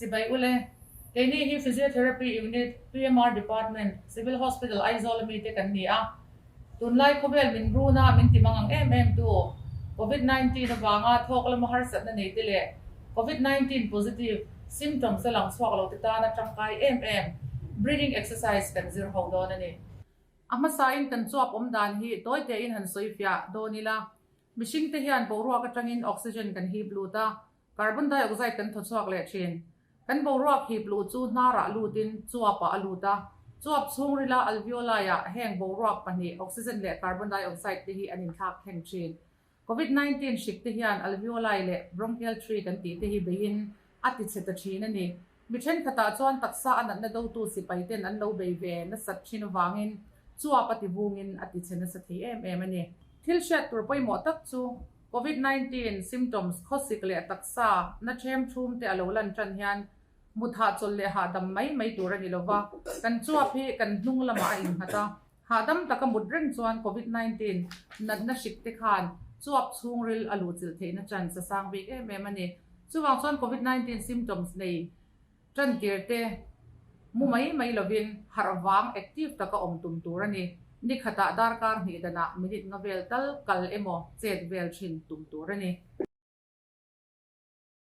Sibai ule, keini hi Physiotherapy Unit, PMR Department, Civil Hospital Aizawl a mite kan ni a, tunlai khawvel min runa min timang ang em em tu Covid nineteen avanga thawk lama harsatna neite leh Covid nineteen positive symptoms a lang chhuak lote tana tangkai em em breathing exercise kan zir ho dawn a ni. A hmasain kan chuap awm dan hi tawite in han sawi fiah dawn ila, Mihringte hian boruak atangin oxygen kan hip lut a, carbon dioxide kan thawchhuak leh thin. Kan boruak hip luh chu hnarah lutin chuapah a lut a. Chuap chhungrila, alveoli-ah heng boruak pahnih, oxygen leh carbon dioxide te hi an inthlak thleng thin. Covid nineteen hrikte hian alveoli leh bronchial tree kan tih te hi beiin a tichhe ta thin a ni. Mi thenkhatah chuan taksa a natna dotu sipaiten an lo bei ve nasat thin avangin chuap a ti vungin a tichhe nasa thei em em a ni. Thil hriat tur pawimawh tak chu Covid nineteen symptoms khawsik leh taksa na ṭhem ṭhum te a lo lan ṭan hian mut hahchawlh leh hahdam mai mai tur a ni lo va, kan chuap hi kan hnung lamah a innghat a, Hahdam tak a mut reng chuan Covid nineteen natna hrik te khan chuap chhungril a luhchilh theihna tan sa sang bik em em a ni. Chuvang chuan Covid nineteen symptoms nei tantir te mu mai mai lovin harh vang active tak a awm tum tur a ni. Ni khatah darkar hnih danah minute nga vel tal kal emaw chet vel thin tum tur a ni.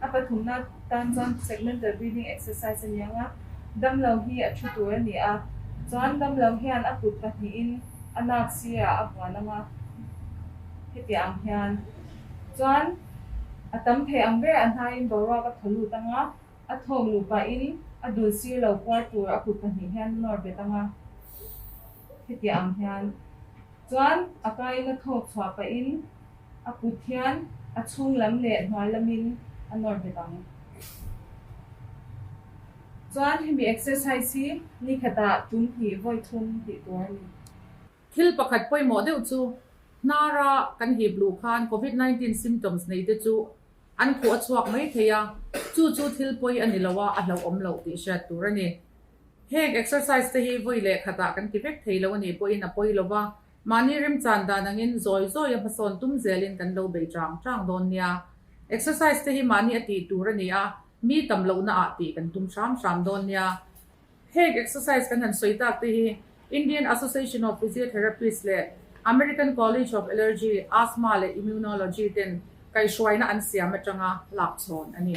A pathumna tan chuan segmental breathing exercise a niang a, damlo hi a thu tur a ni a, chuan damlo hian a kut pahnihin a nak sirah a vuan ang a, hetiah ang hian chuan a tam thei ang ber a hnaiin boruak a thaw lut ang a, a thawk luh pahin a dul sir lo kuar tur a kut pahnih hian a nawr bet ang a, hetiah ang hian chuan a kaiin a thawk chhuah pahin A kut hian a chhung lam leh hnuai lamin a nawr hlim ang. Chuan hemi exercise hi ni khatah tum hnih vawi thum tih tur a ni. Thil pakhat pawimawh deuh chu, Hnara kan hip luh khan Covid nineteen symptoms nei te chu an khuh a chhuak mai thei a, chu chu thil pawi a ni lo a, a hlauhawm lo tih hriat tur a ni. Heng exercise te hi vawi leh khatah kan ti vek thei lo a nih pawhin a pawi lo va, Mahni rim chan dan angin zawi zawi a hmasawn tum zelin kan lo bei chang chang dawn nia. Exercise te hi mahni a tih tur a ni a, mi tam lohna ah tih kan tum hram hram dawn nia. Heng exercise kan han sawi tak te hi Indian Association of Physiotherapists leh American College of Allergy, Asthma leh Immunology ten kaihhruaina an siam atanga lakchhawn a ni.